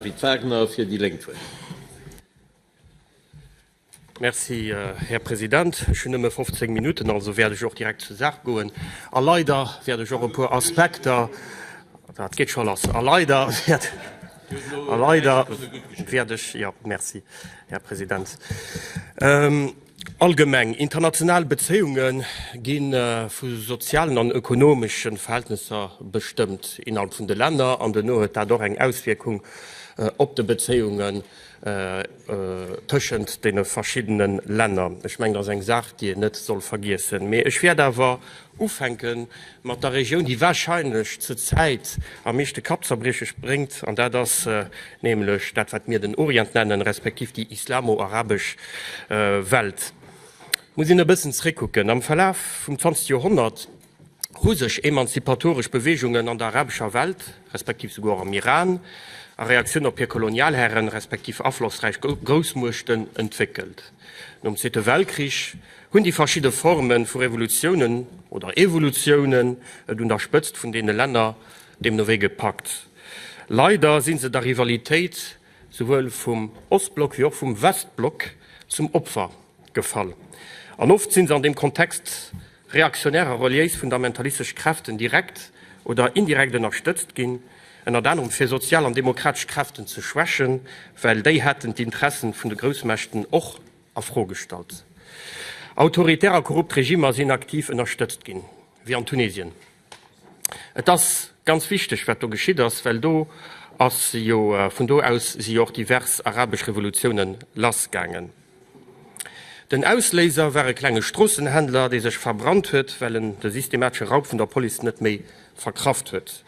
Pit Wagner fir déi Lénk huet d'Wuert. Merci, Här President. Ech hunn nëmme 15 Minutten, also wäert ech och direkt zur Saach goen. A leider wäert ech och e puer Aspekter, dat geet scho lass, a leider wäert, a leider wäert ech, jo, merci, Här President. Allgemeng international Bezéiunge gi vu sozialen an ökonomesche Verhältnesser bestëmmt innerhalb vun de Länner an dono huet dat och eng Auswierkung op de Bezéiungen tëschent deene verschiddene Länner. Ech mengen, dat ass eng Saach, déi een net soll vergiessen. Mee ech wäert awer Ufänke mat der Regioun, déi wahrscheinlech zur Zäit am meeschte Kappzerbrieches bréngt, an dat ass nämlech dat, wat mir den Orient nennen, respektiv déi islamo-arabesch Welt. Muss een e bëssen zréckkucken. Am Verlaf vum zwanzegste Joerhonnert hu sech emanzipatoresch Beweegungen an der arabescher Welt, respektiv souguer och am Iran, a Reaktioun op hir Kolonialhären, respektiv aflossräich Groussmuechten, entwéckelt. Nom Zweete Weltkrich Hunn déi verschidde Forme vu Revolutiounen oder Evolutiounen et un der Spëtzt vun deene Länner deemno wéi gepackt. Leider si se der Rivalitéit souwuel vum Ostblock wéi och vum Westblock zum Opfer gefall. An oft si se an deem Kontext reaktionär a reliéis-fundamentalistesch Kräften direkt oder indirekt ënnerstëtzt ginn, ënnert anerem fir sozial an demokratesch Kräften ze schwächen, well déi hätten d'Interesse vun de Groussmächten och. a Fro gestallt. Autoritär a korrupt Regimmer sinn aktiv ënnerstëtzt ginn, wéi an Tunesien. Et ass ganz wichteg, wat do geschitt ass, well do ass jo, vun do aus si jo och divers arabesch Revolutiounen lassgaangen. Den Ausléiser war e klenge Stroossenhändler, dee sech verbrannt huet, well en de systematesche Raub vun der Police net méi verkraft huet.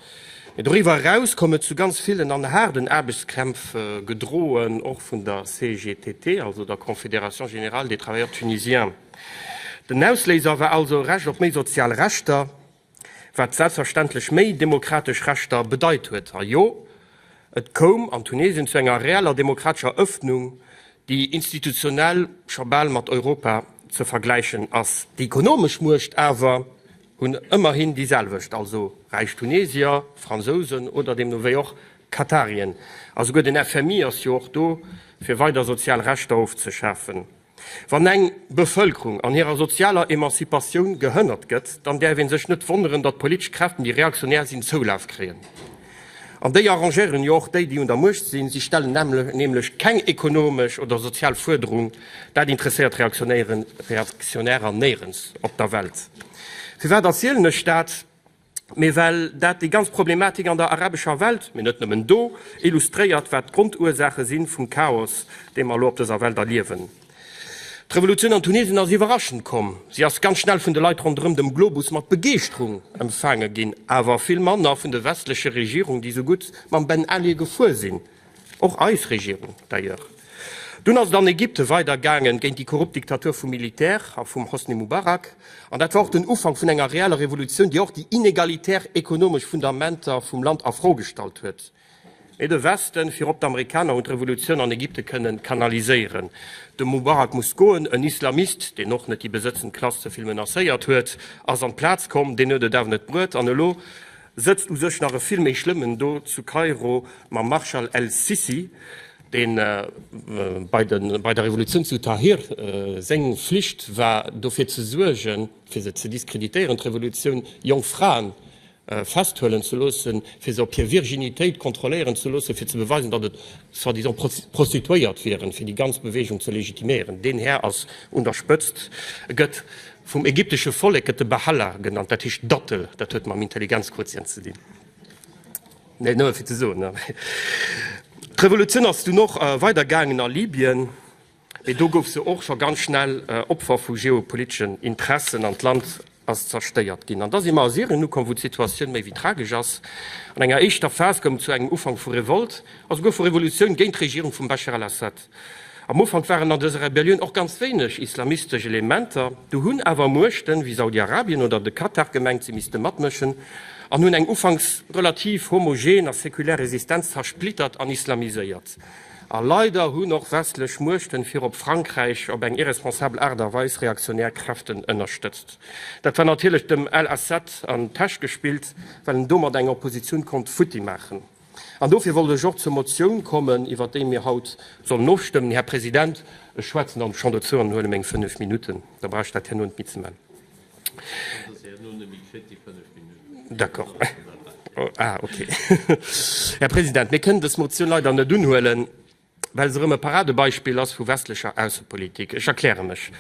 Mee doriwwer eraus koum et zu ganz villen an haarden Aarbechtskrämpf, gedroen och vun der CGTT, also der Confédération Générale des Travailleurs Tunisiens. Den Ausléiser war also e Recht op méi sozial Rechter, wat selbstverständlech méi demokratesch Rechter bedeit huet. A jo, et koum an Tunesien zu enger reeller demokratescher Ëffnung, déi institutionell scho bal mat Europa ze vergläichen ass. Déi ekonomesch Muecht awer Hunn ëmmerhin déi selwecht, also räich Tunesier, Fransousen oder deemno wéi och Katarien. A souguer den FMI ass jo och do, fir weider sozial Rechter ofzeschafen. Wann eng Bevëlkerung an hirer sozialer Emanzipatioun gehënnert gëtt, dann däerf ee sech net wonneren, datt politesch Kräften, déi reaktionär sinn, Zoulaf kréien. An déi arrangéieren jo och déi, déi un der Muecht sinn. Si stellen nämlech keng ekonomesch oder sozial Fuerderung. Dat interesséiert Reaktionärer néierens op der Welt. Firwat erzielen ech dat? Mee well dat déi ganz Problematik an der arabescher Welt, mee net nëmmen do, illustréiert, wat d'Grondursaache si vum Chaos, dee mer elo op dëser Welt erliewen. D'Revolutioun an Tunesien ass iwwerraschend komm. Si ass ganz schnell vun de Leit ronderëm dem Globus mat Begeeschterung empfaange ginn, awer vill manner vun de westleche Regierungen, déi esou gutt mam Ben Ali gefuer sinn, och eis Regierung d'ailleurs. Dunn ass et an Ägypten weider gaangen, géint déi korrupt Diktatur vum Militär a vum Hosni Mubarak. An dat war och den Ufank vun enger reeller Revolutioun, déi och déi inegalitär ekonomesch Fundamenter vum Land a Fro gestallt huet. Mee de Westen, virop d'Amerikaner, hunn d'Revolutioun an Ägypte kënnen kanaliséieren. De Mubarak muss goen, en Islamist, deen och net déi besëtzend Klass ze vill menacéiert huet, ass an d'Plaz komm. Deen huet et awer net bruet an elo sëtzt u sech nach e vill méi Schlëmmen do zu Kairo mam Marschall el-Sissi, deen bei der Revolutioun zu Tahrir, seng Flicht war dofir ze suergen, fir se ze diskreditéieren, d'Revolutioun, jonk Fraen festhuelen ze loossen, fir se op hir Virginitéit kontrolléieren ze loossen, fir ze beweisen, datt et soi-disant Prostituéiert wieren, fir déi ganz Beweegung ze legitiméieren. Deen Här ass un der Spëtzt, e gëtt vum ägyptesche Vollek gëtt e Bahalla genannt, dat heescht Dattel, dat huet mam Intelligenzquotient ze dinn. Net nëmme fir ze soen. D'Revolutioun ass dunn och weider gaangen a Libyen. Mee do gouf se och scho ganz schnell Opfer vu geopoliteschen Interessen an d'Land ass zerstéiert ginn. An da si mer a Syrien ukomm, wou d'Situatioun méi wéi tragesch ass. An enger éischter Phas koum et zu engem Ufank vu Revolte a souguer vu Revolutioun géint d'Regierung vum Bashar al-Assad. Am Ufank waren an dëser Rebellioun och ganz wéineg islamistesch Elementer. Du hunn awer Muechten, wéi Saudi-Arabien oder de Katar, gemengt, si misste matmëschen an hunn eng ufanks relativ homogen a sekulär Resistenz zersplittert an islamiséiert. A leider hunn och westlech Muechten, virop Frankräich, op eng irresponsabel Aart a Weis reaktionär Kräften ënnerstëtzt. Dat war natierlech dem Al Assad an d'Täsch gespillt, well en domat eng Oppositioun konnt futti maachen. An dofir wollt ech och zur Motioun kommen, iwwert déi mir haut sollen ofstëmmen. Här President, ech schwätzen dann schonn dozou an huele meng fënnef Minutten, da brauch ech dat herno net méi ze man. Här President, mir kënnen dës Motioun leider net unhuelen, well se erëm e Paradebeispill ass vu westlecher Aussepolitik. Ech erkläre mech,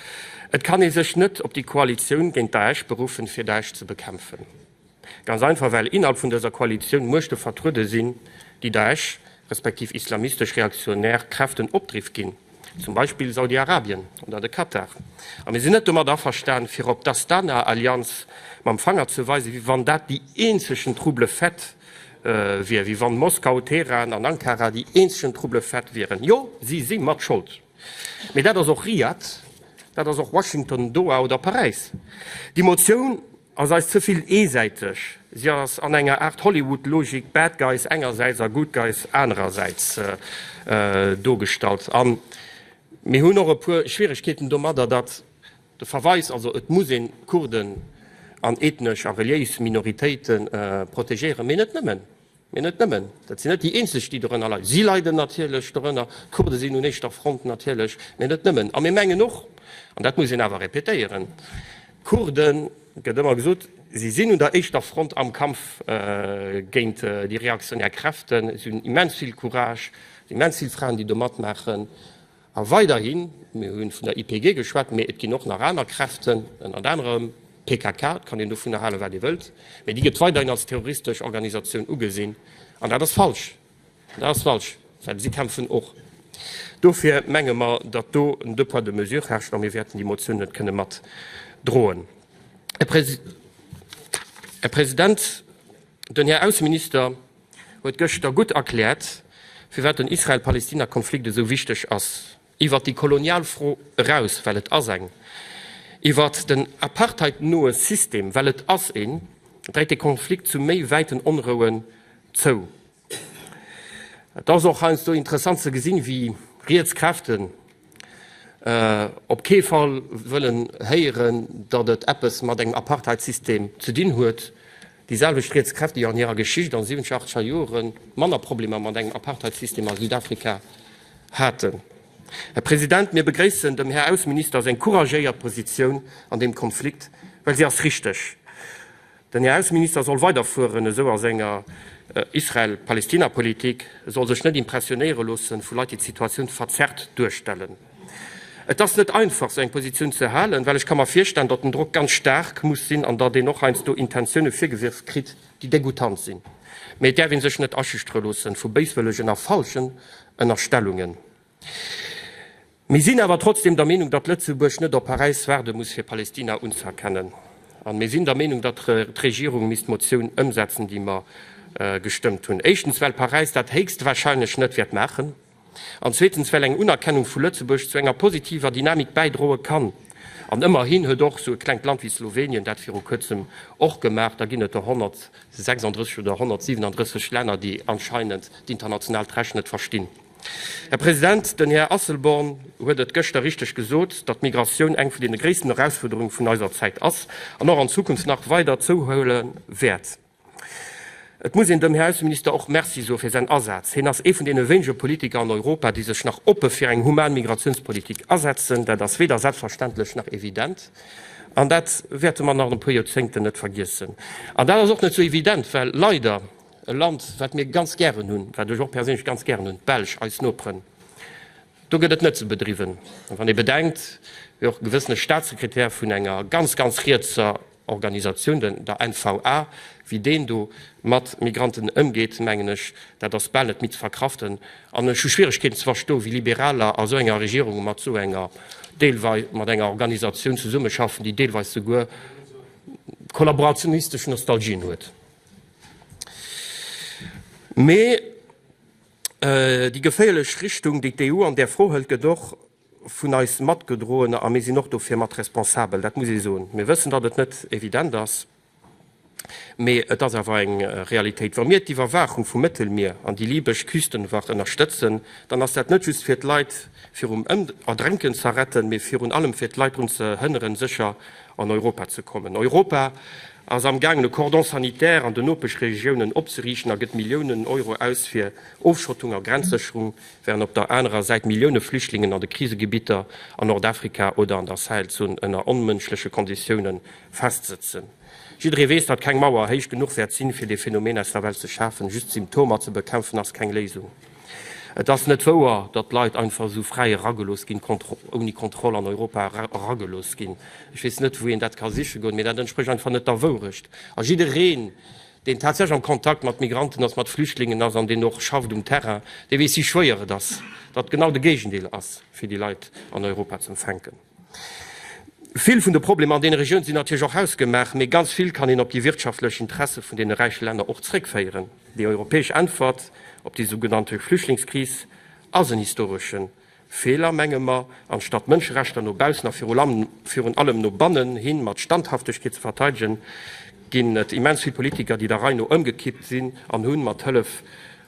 Et kann ee sech net op déi Koalitioun géint Daesh beruffen, fir Daesh ze bekämpfen. Ganz einfach well innerhalb vun dëser Koalitioun Muechte vertruede sinn, déi Daesh respektiv islamistesch reaktionär Kräften Opdriff ginn, zum Beispill Saudi-Arabien oder de Katar. A mir sinn net domat averstan, fir op d'Astana-Allianz mam Fanger ze weisen, wéi wann dat déi eenzegen trouble faite wier, wéi wann Moskau, Teheran an Ankara déi eenzegen trouble faite wieren. Jo, si si mat Schold. Mee dat ass och Riad, dat ass och Washington, Doha oder Paräis. Déi Motioun. Ass eis ze vill eesäiteg. Si ass an enger Aart Hollywood-Logik, Bad Guys engersäits a Good Guys anerersäits, dogestallt. A mir hunn och e puer Schwieregkeeten domadder, datt de Verweis, also et muss een d'Kurden an ethnesch a reliéis Minoritéite protegéieren, mee net nëmmen. Mee net nëmmen, dat sinn net déi eenzeg, déi dorënner leiden. Si leiden natierlech dorënner, d'Kurde sinn un éischter Front natierlech, mee net nëmmen. A mir mengen och, an dat muss een awer répétéieren, Kurden, et gëtt ëmmer gesot, si sinn un der éischter Front am Kampf géint déi reaktionär Kräften, si hunn immens vill Courage, immens vill Fraen, déi do matmaachen. A weiderhin, mir hu vun der YPG geschwat, mee et ginn och nach aner Kräften, ënnert anerem d'PKK, et kann een dovunner halen, wat ee wëllt, mee déi gëtt weiderhin als terroristesch Organisatioun ugesinn. An dat ass falsch, dat ass falsch, well si kämpfen och. Dofir menge mer, datt do en Deux poids, deux mesures herrscht a mir wäerten déi Motioun net kënne matdroen. Här President, den Här Ausseminister, huet gëschter gutt erkläert, firwat den Israel-Palestina-Konflikt esou wichteg ass, iwwert déi kolonial Fro eraus, well et ass eng, iwwert den Apartheid-noe System, well et ass een, dréit de Konflikt zu méi wäiten Onrouen zou. Et ass och heiansdo interessant ze gesinn, wéi riets Kräften op kee Fall wëllen héieren, datt et eppes mat engem Apartheid-System ze dinn huet, déi selwecht riets Kräfte, déi an hirer Geschicht an de 70er, 80er Jore manner Problemer mat engem Apartheid-System a Südafrika haten. Här President, mir begréissen dem Här Ausseminister seng couragéiert Positioun an deem Konflikt, well si ass richteg. Den Här Ausseminister soll weider fueren esou a senger Israel-Palestina-Politik, e soll sech net impressionéiere loosse vu Leit, déi d'Situatioun verzerrt duerstellen. Et ass net einfach, esou eng Positioun ze halen, well ech ka mer virstellen, datt den Drock ganz staark muss sinn an datt een och heiansdo Intentioune virgewierft kritt, déi degoutant sinn. Mee et däerf ee sech net aschüchtere loosse vu béiswëllegen a falschen Ënnerstellungen. Mir sinn awer trotzdem der Meenung, datt Lëtzebuerg net op Paräis waarde muss, fir Palestina unzëerkennen. An mir sinn der Meenung, datt d'Regierung misst d'Motioun ëmsetzen, déi mer gestëmmt hunn. Éischtens, well Paräis dat héchstwahrscheinlech net wäert maachen. An zweetens, well eng Unerkennung vu Lëtzebuerg zu enger positiver Dynamik bäidroe kann. An ëmmerhin huet och esou e klengt Land wéi Slowenien dat viru Kuerzem och gemaach. Da ginn et der 136 oder 137 Länner, déi anscheinend d'internationaalt Recht net verstinn. Här President, den Här Asselborn huet et gëschter richteg gesot, datt d'Migratioun eng vun deene gréissten Erausfuerderunge vun eiser Zäit ass an och an Zukunft nach weider zouhuele wäert. Et muss een dem Här Ausseminister och Merci soe fir säin Asaz. Hien ass ee vun deene wéinege Politiker an Europa, déi sech nach oppe fir eng human Migratiounspolitik asetzen. Dat ass weder selbstverständlech nach evident an dat wäerte mer nach an e puer Joerzéngten net vergiessen. An dat ass och net esou evident, well leider, E Land, wat mir ganz gären hunn, wat ech och perséinlech ganz gären hunn, d'Belsch, eis Noperen. Do gëtt et net ze bedriwwen. A wann ee bedenkt, wéi och e gewëssene Staatssekretär vun enger ganz, ganz rietser Organisatioun, den, der NVA, wéi deen do mat Migranten ëmgeet, mengen ech, dat ass bal net méi ze verkraften. An ech hu Schwieregkeeten ze versto wéi Liberaler a sou enger Regierung mat sou enger, deelwei, mat enger Organisatioun zesummeschaffen, déi deelweis souguer kollaborationistesch Nostalgien huet. Mee déi geféierlech Richtung, déi d'EU an där Fro hëlt, gëtt och vun eis matgedroen, a mir sinn och dofir mat responsabel, dat muss ee soen. Mir wëssen, datt et net evident ass, mee et ass awer eng Realitéit. Wa mir d'Iwwerwaachung vum Mëttelmier an déi libesch Küstenwacht ënnerstëtzen, dann ass dat net just fir d'Leit virum Erdrénken ze retten, mee virun allem fir d'Leit drun ze hënneren, sécher an Europa ze kommen. Europa ass am gaangen e Cordon sanitaire an den Nopeschregiounen opzeriichten a gëtt Milliounen Euro aus fir Ofschottung a Grenzsécherung, während op der anerer Säit Millioune Flüchtlingen an de Krisegebitter an Nordafrika oder an der Sahelzon ënner onmënschleche Konditiounen festsëtzen. Jidderee weess, datt keng Mauer héich genuch wäert sinn, fir dee Phänomen aus der Welt ze schafen. Just d'Symptomer ze bekämpfen ass keng Léisung. Et ass net wouer, datt Leit einfach esou fräi eragelooss ginn, ouni Kontroll an Europa eragelooss ginn. Ech weess net, wou een dat ka siche goen, mee dat entsprécht einfach net der Wourecht. A jiddereen, deen tatsächlech am Kontakt mat Migranten ass, mat Flüchtlingen ass an deen och schafft um Terrain, dee weess, wéi schwéier et ass, datt genau de Géigendeel ass, fir déi Leit an Europa ze empfänken. Vill vun de Problemer an deene Regiounen sinn natierlech och hausgemaach, mee ganz vill kann een op déi wirtschaftlech Interesse vun deene räiche Länner och zréckféieren. Déi europäesch Äntwert op déi sougenannte Flüchtlingskris ass en historesche Feeler, menge mer, anstatt d'Mënscherechter no baussen a virun allem no bannen hi mat Standhaftegkeet ze verteidegen, ginn et immens vill Politiker, déi der Rei no ëmgekippt sinn an hu mat Hëllef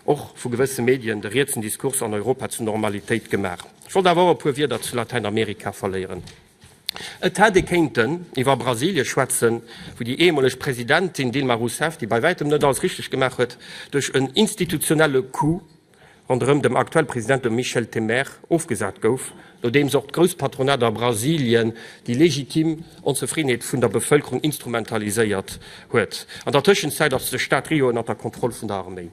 och vu gewësse Medien de rietsen Diskurs an Europa zur Normalitéit gemaach. Ech wollt awer och e puer Wierder zu Latäinamerika verléieren. Et hätt ee kéinten iwwer Brasilie schwätzen, wou déi ehemoleg Presidentin Dilma Rousseff, déi bei wäitem net alles richteg gemaach huet, duerch en institutionelle Coup ronderëm dem aktuell President, dem Michel Temer, ofgesat gouf, nodeems och d'Grousspatronater a Brasilien déi legitim Onzefriddenheet vun der Bevëlkerung instrumentaliséiert huet. An der Tëschenzäit ass de Staat Rio ënnert der Kontroll vun der Arméi.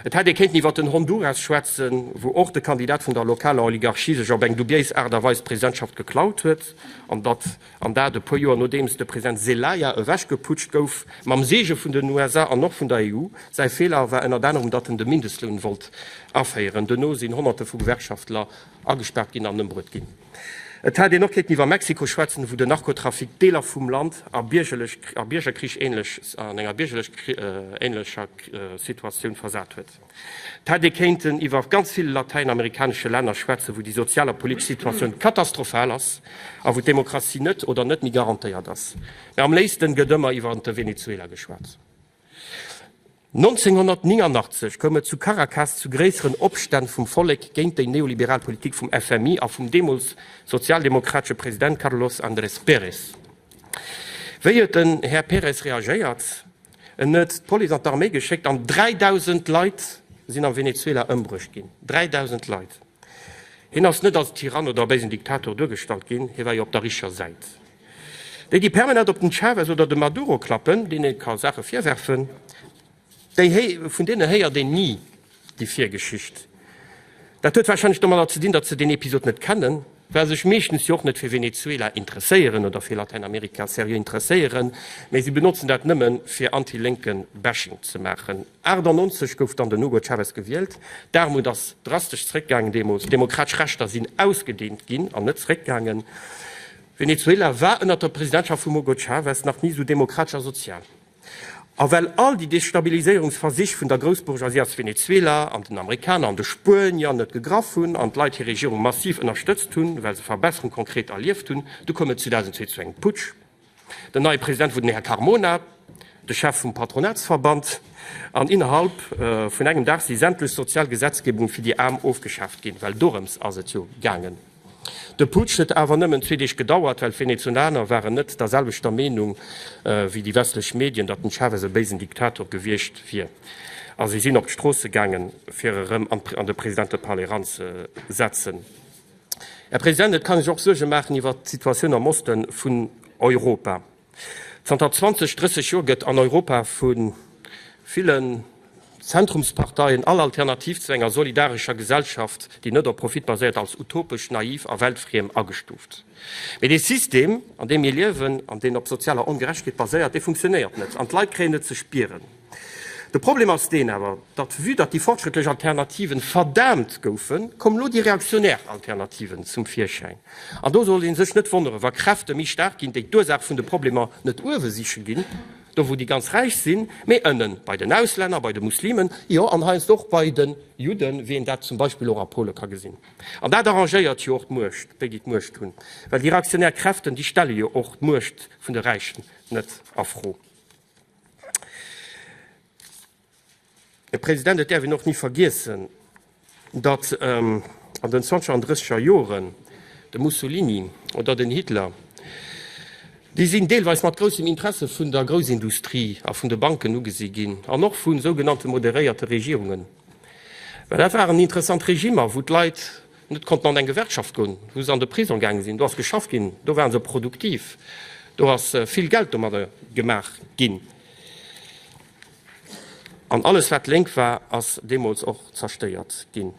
Et hätt ee kéinten iwwer den Honduras schwätzen, wou och de Kandidat vun der lokaler Oligarchie sech op eng dubiéis Aart a Weis d'Presidentschaft geklaut huet, an datt an dat e puer Joer nodeems de President Zelaya ewechgeputscht gouf, mam Seege vun den USA an och vun der EU. Säi Feeler war ënnert anerem, datt en de Mindestloun wollt aféieren. Dono sinn Honnerte vu Gewerkschaftler agespaart ginn an ëmbruet ginn. Et hätt een och kéinten iwwer Mexiko schwätzen, wou den Narkotrafic Deeler vum Land a enger biergerlech-ähnlecher Situatioun versat huet. Et hätt ee kéinten iwwer ganz vill latäinamerikanesche Länner schwätzen, wou déi sozial a politesch Situatioun katastrophal ass a wou d'Demokratie net oder net méi garantéiert ass. Mä am léifsten gëtt ëmmer iwwer de Venezuela geschwat. 1989 koum et zu Caracas zu gréisseren Opstänn vum Vollek géint déi neoliberal Politik vum FMI a vum deemools sozialdemokratesche President Carlos Andrés Pérez. Wéi huet den Här Pérez reagéiert? En huet d'Police an d'Arméi geschéckt an 3.000 Leit sinn am Venezuela ëmbruecht ginn. 3.000 Leit! Hien ass net als Tyrann oder béisen Diktator duergestallt ginn, hie war jo op der richer Säit. Déi, déi permanent op den Chavez oder de Maduro klappen, deenen ee ka Saache virwerfen, vun deene héiert een ni déi Virgeschicht. Dat huet warscheinlech domadder ze dinn, datt se deen Episod net kennen, well sech meeschtens jo och net fir Venezuela interesséieren oder fir Latäinamerika seriö interesséieren, mä si benotzen dat nëmmen, fir anti-Lénken-Bashing ze maachen. 1998 gouf dann den Hugo Chavez gewielt. D'Aarmut ass drastesch zeréckgaangen deemools, d'demokratesch Rechter sinn ausgedeent ginn an net zeréckgaangen. Venezuela war ënnert der Presidentschaft vum Hugo Chavez nach ni esou demokratesch a sozial. A well all déi Destabiliséierungsversich vun der Groussbourgeoisie aus Venezuela an den Amerikaner an de Spuenier net gegraff hunn an d'Leit hir Regierung massiv ënnerstëtzt hunn, well se Verbesserung konkret erlieft hunn, du koum et 2002 zu engem Putsch. Den neie President wor den Här Carmona, de Chef vum Patronatsverband, an innerhalb vun engem Dag si sämtlech sozial Gesetzgebungen fir déi Aarm ofgeschaaft ginn, well dorëms ass et jo gaangen. De Putsch huet awer nëmmen zwee Deeg gedauert, well d'Venezonaner waren net der selwechter Meenung wéi déi westlech Medien, datt den Chavez e béisen Diktator gewiescht wier, a si sinn op d'Stroosse gaangen, fir e rëm an de Presidente-Palais eranzesetzen. Här President, et kann een sech och Suerge maachen iwwert d'Situatioun am Oste vun Europa. Zanter 20, 30 Joer gëtt an Europa vu villen Zentrumsparteien all Alternativ zu enger solidarescher Gesellschaft, déi net op Profit baséiert, als utopesch, naiv a weltfriem agestuuft. Mee dee System, an deem mir liewen an deen op sozialer Ongerechtegkeet baséiert, dee funktionéiert net an d'Leit kréien et ze spieren. De Problem ass deen awer, datt vue datt déi fortschrëttlech Alternativen verdaamt goufen, kommen elo déi reaktionär Alternativen zum Virschäin. An do soll ee sech net wonneren, wa Kräfte méi staark ginn, déi d'Ursaach vun de Problemer net uewe siche ginn, do wou déi ganz Räich sinn, mee ënnen, bei den Auslänner, bei de Muslimen, jo an heiansdo och bei de Judden, wéi een dat zum Beispill och a Pole ka gesinn. An dat arrangéiert jo och d'Muecht, déi déi d'Muecht hunn, well déi reaktionär Kräften, déi stelle jo och d'Muecht vun de Räichen net a Fro. Här President, et däerf een och ni vergiessen, datt ähm, an den Zwanzeger an Drësseger Joren de Mussolini oder den Hitler, déi sinn deelweis mat groussem Interesse vun der Groussindustrie a vun de Banken ugesi ginn an och vu sougenannte moderéierte Regierungen, well dat waren interessant Regimmer, wou d'Leit Net konnten an eng Gewerkschaft goen, wou se an de Prisong gaange sinn. Do ass geschafft ginn, do ware se produktiv, do ass vill Geld domadder gemaach ginn. An alles, wat lénk war, ass deemools och zerstéiert ginn.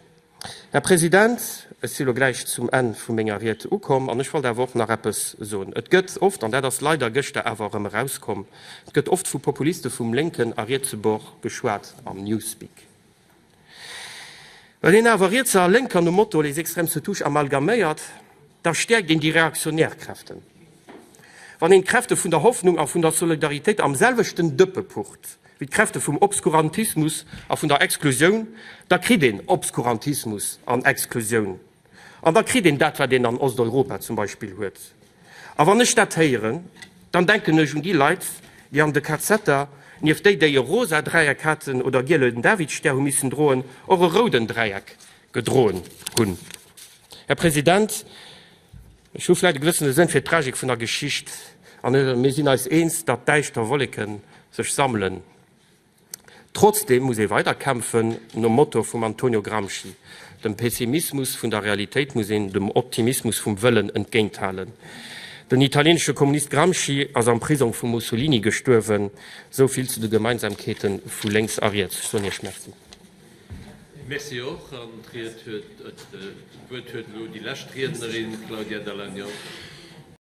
Här President, ech si lo gläich zum Enn vu menger Ried ukomm. An ech wollt awer och nach eppes soen. Et gëtt oft, an dat ass leider gëschter awer erëm erauskomm, et gëtt oft vu Populiste vum Lénken a Rietsebuerg geschwat am Newspeak. Well een awer Rietser a Lénker nom Motto les extrêmes se touchent amalgaméiert, da stäerkt een déi reaktionär Kräften. Wann een d'Kräfte vun der Hoffnung a vun der Solidaritéit am selwechten Dëppe pucht wéi d'Kräfte vum Obskurantismus a vun der Exklusioun, da kritt een Obskurantismus an Exklusioun. An da kritt een dat, wat een an Osteuropa zum Beispill huet. A wann ech dat héieren, dann denken ech un déi Leit, déi an de KZer, nieft déi, déi e rosa Dräieck haten oder e gielen Davidstär hu missen droen, och e rouden Dräieck gedroen hunn. Här President, ech hu vläicht e gewëssene Sënn fir d'Tragik vun der Geschicht, a mir sinn eis eens, datt däischter Wolleke sech sammelen. Trotzdem muss ee weider kämpfen, nom Motto vum Antonio Gramsci, Dem Pessimismus vun der Realitéit muss een dem Optimismus vum Wëllen entgéinthalen. Den italienesche Kommunist Gramsci ass am Prisong vum Mussolini gestuerwen. Esou vill zu de Gemeinsamkeete vu lénks a riets. Ech soen Iech Merci. Merci och. An d'Wuert huet elo déi lescht Riednerin, d'Claudia Dall'Agnol.